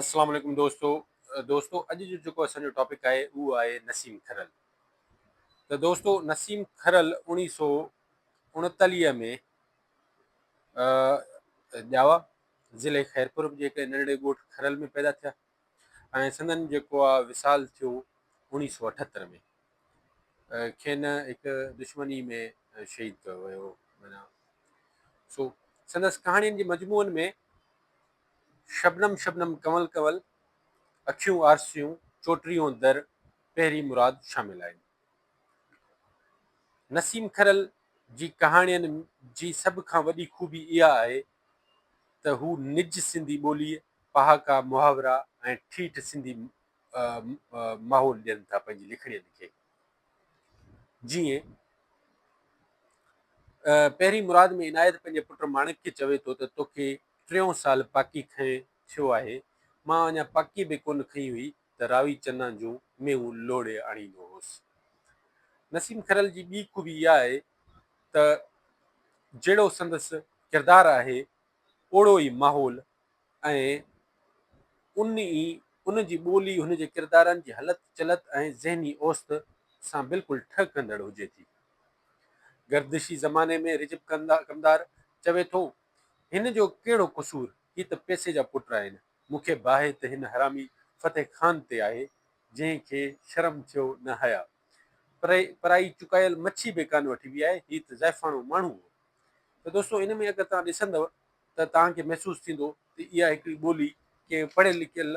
اسلام عليڪم دوستو دوستو اڄ جو جيڪو اسان جو ٽاپڪ آهي اهو آهي نسيم کرل ته دوستو نسيم کرل اوڻيهه سو اڻتاليهه ۾ ڄاوا ضلع خيرپور جي هڪ ننڍڙي ڳوٺ کرل ۾ پيدا ٿيا ۽ سندن جيڪو آهي وصال ٿيو اوڻيهه سو اٺهتر ۾ کين هڪ دشمني ۾ شهيد ڪيو ويو مانا سو سندس ڪهاڻين جي مجموعن ۾ شبنم شبنم ڪنول ڪنول، اکيون آرسيون، چوٽريون در، پهري مراد شامل آهن. نسيم کرل جي ڪهاڻين جي سڀ کان وڏي خوبي اها آهي ته هو نج سنڌي ٻوليء، پهاڪا، محاورا ۽ ٺيٺ سنڌي ماحول ڏين ٿا پنهنجي لکڻين کي. جيئن پهري مراد ۾ عنايت پنهنجي پٽ ماڻڪ کي چوي ٿو ته توکي ٽيون سال پاڪي کنئي ٿيو آهي. مان اڃا پاڪي به ڪونه کنئي هئي ته راوي چنا جون ميون لوڙهي آڻيندو هوس. نسيم کرل جي ٻي خوبي اها آهي ته جهڙو سندس ڪردار آهي اوڙو ئي ماحول ۽ ان ئي ان جي ٻولي هن جي ڪردارن جي هلت چلت ۽ ذهني اوسط سان بلڪل ٺهه ڪندڙ هجي ٿي. گردشي زماني ۾ رجب ڪمدار چوي ٿو هن جو ڪهڙو قصور؟ هي ته پئسي جا پٽ آهن. مون کي باهه ته هن حرامي فتح خان تي آهي، جنهن کي شرم ٿيو نه حياء. پرائي چڪايل مڇي به ڪانه وٺبي آهي. هي ته ضعيفاڻو ماڻهو هو. ته دوستو ان ۾ اگر توهان ڏسندؤ ته توهان کي محسوس ٿيندو ته اها هڪڙي ٻولي ڪنهن پڙهيل لکيل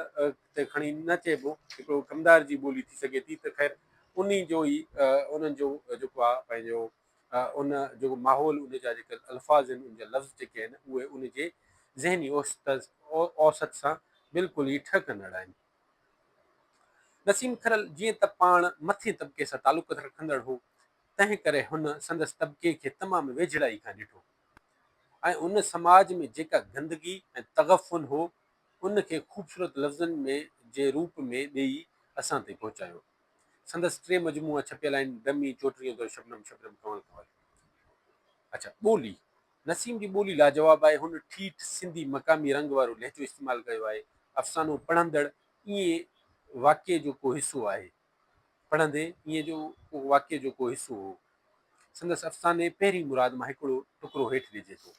تي کڻي نه چئبو، هڪڙو ڪمدار جي ٻولي ٿي سگهي ٿي ته خير انهي جو ئي انهن جو جيڪو آهي پنهنجو ان جيڪو ماحول ان جا جيڪي الفاظ آهن ان جا لفظ جيڪي آهن اهي ان جي ذهني اوسط سان بلڪل ئي ٺهه ڪندڙ آهن. نسيم کرل جيئن ته پاڻ مٿين طبقي سان تعلقت رکندڙ هو تنهن ڪري هن سندس طبقي کي تمام ويجهڙائي کان ڏٺو ۽ ان سماج ۾ جيڪا گندگي ۽ تغفن هو ان کي خوبصورت لفظن ۾ جي روپ ۾ ڏيئي اسان تائين پهچايو. سندس ٽي مجموعا ڇپيل آهن، دمي، چوٽريون در، شبنم، شبنم ڪنول ڪنول. اچا ٻولي، نسيم جي ٻولي لاجواب آهي، هن ٺيٺ سنڌي مقامي رنگ وارو لهجو استعمال ڪيو آهي، افسانو پڙهندڙ ائين واقعي جو ڪو حصو آهي، پڙهندي ائين جو ڪو واقعي جو ڪو حصو هو، سندس افساني پهرين مراد مان هڪڙو ٽڪرو هيٺ ڏجي ٿو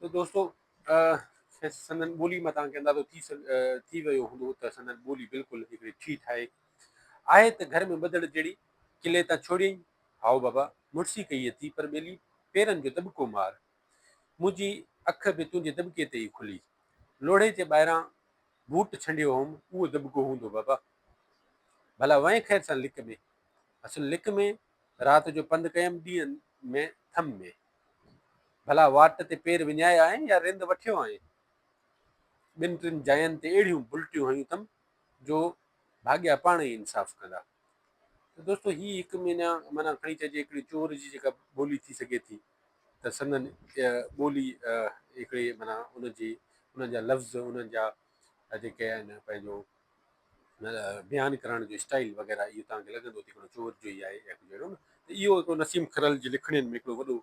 ته دوستو! کيس سندن ٻولي مان توهان کي اندازو ٿي ٿي ويو هوندو ته سندن ٻولي بلڪل هڪڙي ٺيٺ آهي. آهي ته گهر ۾ ٻڌڻ جهڙي، قلعي تان ڇوڙيئين، هائو بابا، مڙسي ڪئي اٿئي پر ٻيلي پيرن جو دٻڪو مار، منهنجي اک به تنهنجي دٻڪي تي ئي کلي. لوڙهي جي ٻاهران بوٽ ڇنڊيو هوم، اهو دٻڪو هوندو بابا. ڀلا وئين خير سان لڪ ۾. اصل لڪ ۾، رات جو پنڌ ڪيم ڏينهن ۾ ٿم ۾. ڀلا واٽ تي پير وڃايا آهين يا رند وٺيو آهين؟ ٻن ٽن جاين تي اهڙيون بلٽيون هنيون اٿم جو ڀاڳيا پاڻ ئي انصاف ڪندا. ته دوستو هي هڪ معنيٰ معنيٰ کڻي چئجي هڪڙي چور جي جيڪا ٻولي ٿي سگهي ٿي ته سندن ٻولي هڪڙي معنيٰ ان جي انهن جا لفظ انهن جا جيڪي آهن پنهنجو بيان ڪرڻ جو اسٽائيل وغيره اهو توهان کي لڳندو ته هڪڙو چور جو ئي آهي يا ڪجهه اهڙو نه ته اهو هڪڙو نسيم کرل جي لکڻين ۾ هڪڙو وڏو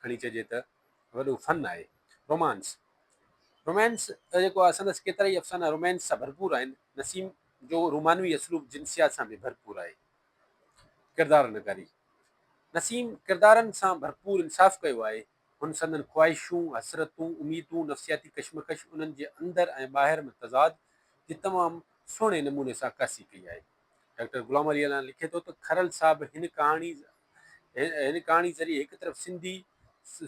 کڻي چئجي ته وڏو فن آهي. رومانس Romance جيڪو آهي سندس ڪيترائي افسانا رومانس سان ڀرپور آهن. نسيم جو رومانوي اسلوب جنسيات سان به ڀرپور آهي. ڪردار نگاري نسيم ڪردارن سان ڀرپور انصاف ڪيو آهي. هن سندن خواهشون، حسرتون، اميدون، نفسياتي ڪشمڪش، انهن جي اندر ۽ ٻاهر ۾ تضاد جي تمام سهڻي نموني سان عڪاسي ڪئي آهي. ڊاڪٽر غلام علي الانا لکي ٿو ته کرل صاحب هن ڪهاڻي هن ڪهاڻي ذريعي هڪ طرف سنڌي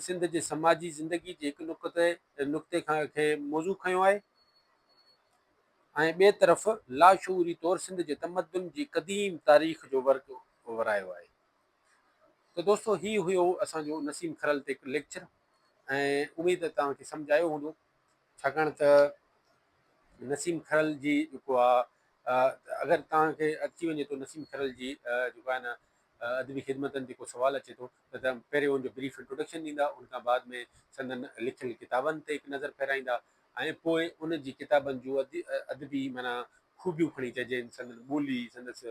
سنڌ جي سماجي زندگي جي هڪ نقطي نقطي کان کي موضوع کنيو آهي ۽ ٻئي طرف لاشعوري طور سنڌ جي تمدن جي قديم تاريخ جو ورق ورايو آهي. ته دوستو هي هيو اسان جو نسيم کرل تي هڪ ليڪچر ۽ اميد ته توهان کي سمجھ آيو هوندو ڇاڪاڻ ته نسيم کرل جي جيڪو آهي اگر توهان کي اچي وڃي ٿو نسيم کرل جي جيڪو آهي نه ادبي خدمتن تي ڪو سوال اچي ٿو ته پهريون ان جو بريف انٽروڊڪشن ڏيندا ان کان بعد ۾ سندن لکيل ڪتابن تي هڪ نظر ڦيرائيندا ۽ پوء انهن جي ڪتابن جون ادبي معنيٰ خوبيون کڻي چئجين، سندن ٻولي، سندس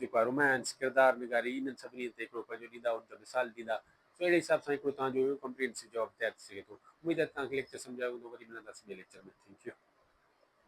جيڪو آهي رومانس، ڪردار نگاري، انهن سڀني تي هڪڙو پنهنجو ڏيندا، ان جو مثال ڏيندا، سو اهڙي حساب سان هڪڙو توهان جو ڪمپريهنسو جواب تيار ٿي سگهي ٿو. اميد آهي ته توهان کي ليڪچر سمجهه آيو هوندو، وري ملنداسين ٻئي ليڪچر ۾. Thank U.